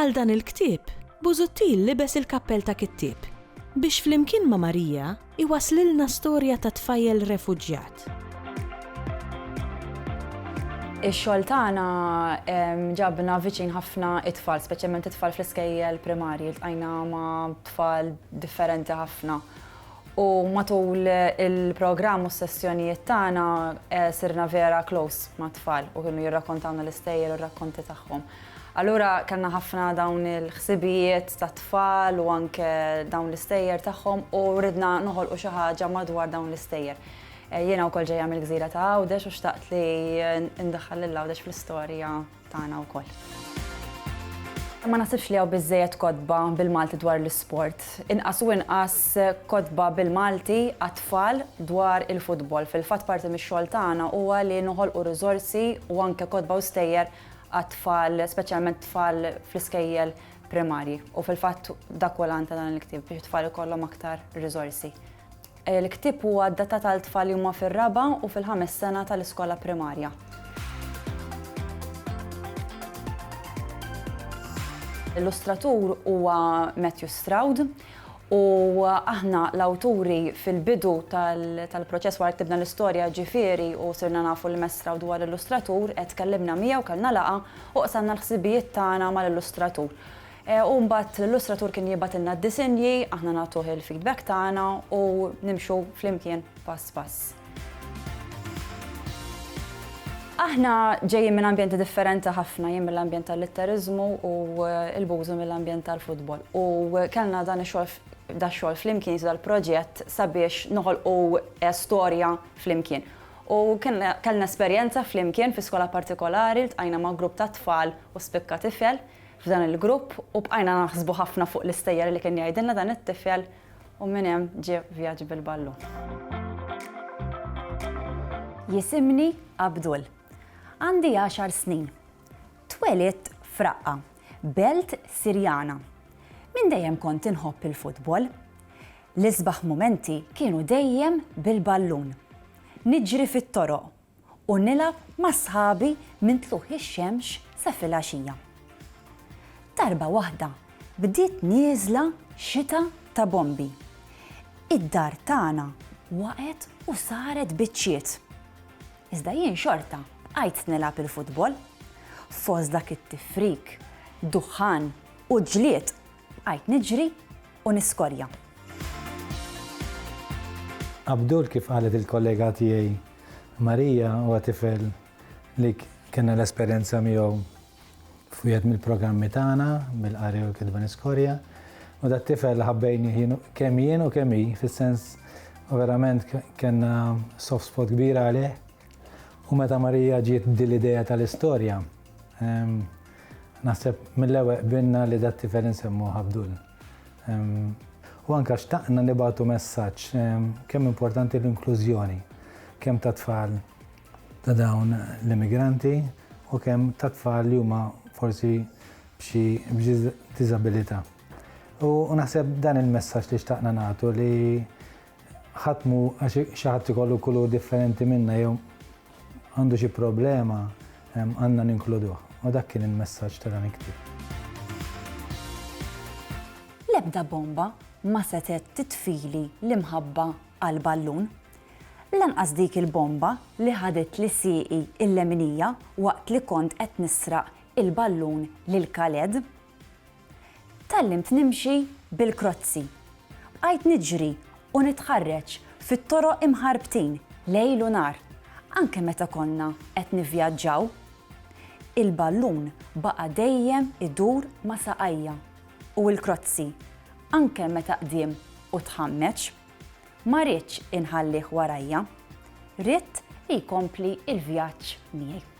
Għal dan il-ktieb, Busuttil libes il-kappell ta' kittieb biex flimkien ma' Marija jwasslilna storja ta' tfajjel refuġjat. Ix-xogħol tagħna ġabna viċin ħafna t-tfal, speċjalment it-tfal fl-iskejjel primarji. Ltqajna ma' tfal differenti ħafna. U matul il-programm u s-sessjonijiet tagħna sirna vera close mat-tfal u kienu jirrakkontawna l-istejjer u r-rakkonti tagħhom. Allura kellna ħafna dawn il-ħsibijiet tat-tfal u anke dawn l-istejjer tagħhom u ridna noħolqu xi ħaġa madwar dawn l-istejjer. Eh, jiena wkoll ġejja mill-gżira ta' Għawdex u xtaqt li ndaħħal lil Għawdex fl-istorja tagħna wkoll. Ma nasibx li hawn biżejjed kodba bil-Malti dwar l-isport. Inqas u inqas kodba bil-Malti għat-tfal dwar il-futbol. Fil-fatt parti mix-xogħol tagħna huwa li noħolqu riżorsi u anke kodba u stejjer għat-tfal, speċjalment tfal fl-iskejjel primarji. U fil-fatt dak huwa l-għan ta' dan il-ktieb biex it-tfal ikollhom aktar riżorsi. Il-ktieb huwa adattat għal tfal li huma fir-raba' u fil-ħames sena tal-iskola primarja. L-illustratur huwa Matthew Stroud, U aħna, l-awturi, fil-bidu tal-proċess wara li ktibna l-istorja, ġifieri, u sirna nafu l-imessra u dwar l-illustratur, qed tkellimna miegħu, kellna laqgħa, u qsamna l-ħsibijiet tagħna mal-illustratur. U mbagħad l-illustratur kien jibgħatilna d-disinji, aħna nagħtuh il-feedback tagħna u nimxu flimkien pass pass. Aħna ġejjin minn ambjenti differenti ħafna, jien mill-ambjent tal-litteriżmu u l-bużu mill-ambjent tal-futbol. U kellna dan ix-xogħol da xogħol flimkien dal-proġett sabiex noħolqu eh, storja flimkien. U kellna esperjenza flimkien fi skola partikolari li tqajna ma' grupp ta' tfal u spikka tifel f'dan il-grupp u bqajna naħsbu ħafna fuq l-istejjer li kien jgħidilna dan it-tifel U minn hemm ġie vjaġġ bil-ballun. Jisimni Abdul. Għandi għaxar snin. Twelidt f'Raqqa, belt Sirjana. Minn dejjem kont inħobb il-futbol. L-isbaħ mumenti kienu dejjem bil-ballun. Niġri fit-toroq u nilgħab ma' sħabi minn tlugħ ix-xemx sa filgħaxija. Darba waħda bdiet nieżla xita ta' bombi. Id-dar tagħna waqgħet u saret biċċiet. Iżda jien xorta bqajt nilgħab il-futbol. Fost dak it-tifrik, duħħan u ġlied bqajt niġri u niskorja. Abdul kif qalet il-kollega tiegħi Maria huwa tifel li kellna l-esperjenza miegħu f'wieħed mill-programmi tagħna bil-qari u l-kitba niskorja. U dat tifel ħabbejni kemm jien u kemm hi fis-sens u verament kellna soft spot kbira għalih. U meta Marija ġiet din l-idea tal-istorja, ehm, Naħseb mill-ewwel qbilna li dat-tifel insemmuh Abdul. U anke xtaqna nibgħatu messaġġ kemm importanti l-inklużjoni, kemm ta' tfal ta' dawn l-immigranti u kemm ta' tfal li huma forsi b'xi diżabilità. U naħseb dan il-messaġġ li xtaqna nagħtu li Ħadd mhu għax xi ħadd ikollu kulur differenti minna jew għandu xi problema għandna ninkluduh. U dak kien il-messaġġ ta' dan il-ktieb. L-ebda bomba ma setgħet titfili l-imħabba għal ballun. Lanqas dik il-bomba li ħaditli sieqi il-leminija waqt li kont qed nisraq il-ballun lil Khaled. Tgħallimt nimxi bil-krozzi. Bqajt niġri u nitħarreġ fit-toroq imħarbtin lejl u nhar, anke meta konna qed nivvjaġġaw. Il-ballun baqa' dejjem idur ma' saqajja u l-krozzi, anke meta qdiem u tħammeġ, ma ridtx inħallih warajja. Ridt li jkompli l-vjaġġ miegħi.